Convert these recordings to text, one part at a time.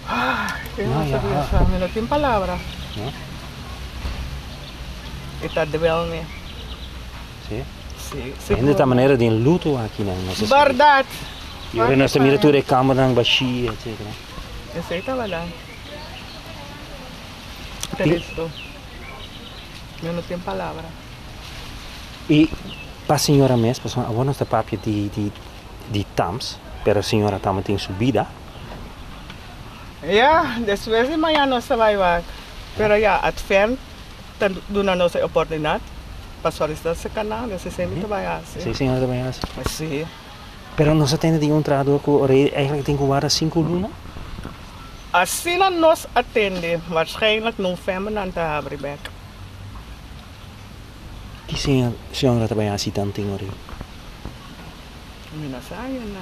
Ay, no se bisa, mi no tin palabra. No? E ta dwel mi. Sí. Sí, sí. Hende ta manera den luto aki na no se. Verdad. Y ahora no se mira tur e cama dan bashi, etc. Esa es verdad. Cristo. Mi no tin palabra. Y pa señora mes, pues ahora no se papia di di di tams, pero señora tamo tin su vida. Ya, despues di maña nos ta bai wak. Pero ya, Advent ta duna nos e oportunidad pa solisitá se kanan, dus e siempre ta bai hasi. Si, siempre ta bai hasi. Sí. Pero nos a tende di un trahador ku rei eigenlijk tin ku warda sinku luna? Asina nos a tende, waarschijnlijk november nan ta habri bèk. Ki siña Señor a ta bai hasi dan tin ori? Mi no sa ainda.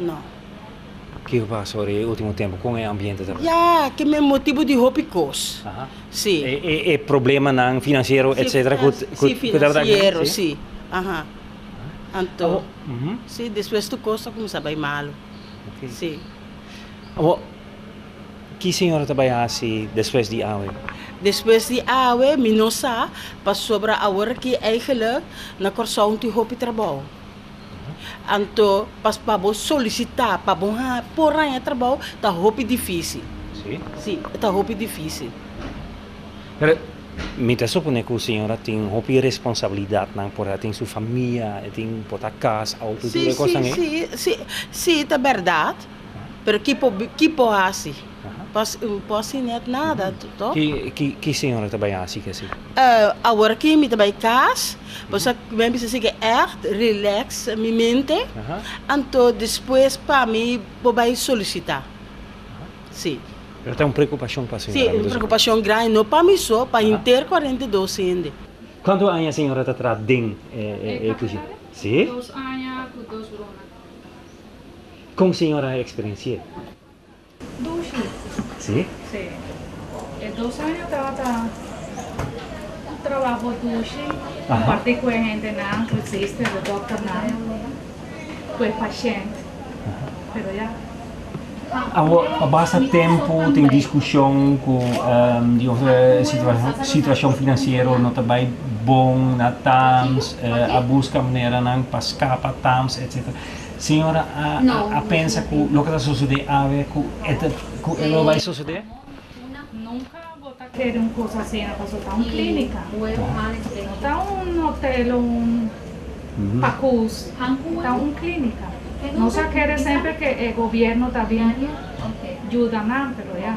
No. Ke ku pasa ora e ultimo tempu kon e ambiente ta? Ya, ke men motibu di hopi kos. Si. E problemanan finansiero etsetera ku tabata aki? Si, anto si despues tur kos ta kuminsá bai malu. Si. Awor, ki señora ta bai hasi despues di awe? Despues di awe mi no sa, pasobra awor aki, eigenlijk, na Kòrsou no tin hopi trabou. Anto pas pa bo solisitá pa bo por haña trabou ta hopi difísil. Sí? Sí, ta hopi difísil. Pero mi ta suponé ku señora tin hopi responsabilidatnan por e a tin su famia, e tin por ta kas, auto i tur e kosnan ei? Sí, sí, sí, sí ta bèrdat. Pero ki po ki po hasi pa po hasi net nada to. Ki ki señora ta bai hasi ki asi? Awor ki mi ta bai kas pues a mi a bisa si ke echt relax mi mente anto despues pa mi bo bai solisita si. Pero ta un preokupashon pa señora mi ta suponé. Si un preokupashon grandi no pa mi so pa henter kuarenta i dos hende. Kuantu aña señora ta traha den e kusina? Si. Dos aña ku dos luna. Kon señora a eksperensi'é? Dushi. Sí? Sí. E dos año atrás ta un trabaho dushi, kompartí ku e hendenan, ku e sister, e dòkternan, ku e pashènt. Pero ya. Awo, pa basta tempu tin diskushon ku di otro situashon finansiero no ta bai bon na tams, a buska maneranan pa skapa tams, etsetera. Siñora a pensa ku loke ta sosodé awe ku e lo bai sosodé? Nunka bo ta kere un kos asina pasobra ta un klínika. No ta un hotel o un pakús. Ta un klínika. Nos a kere semper ku e gobièrnu ta bin yuda nan, pero ya.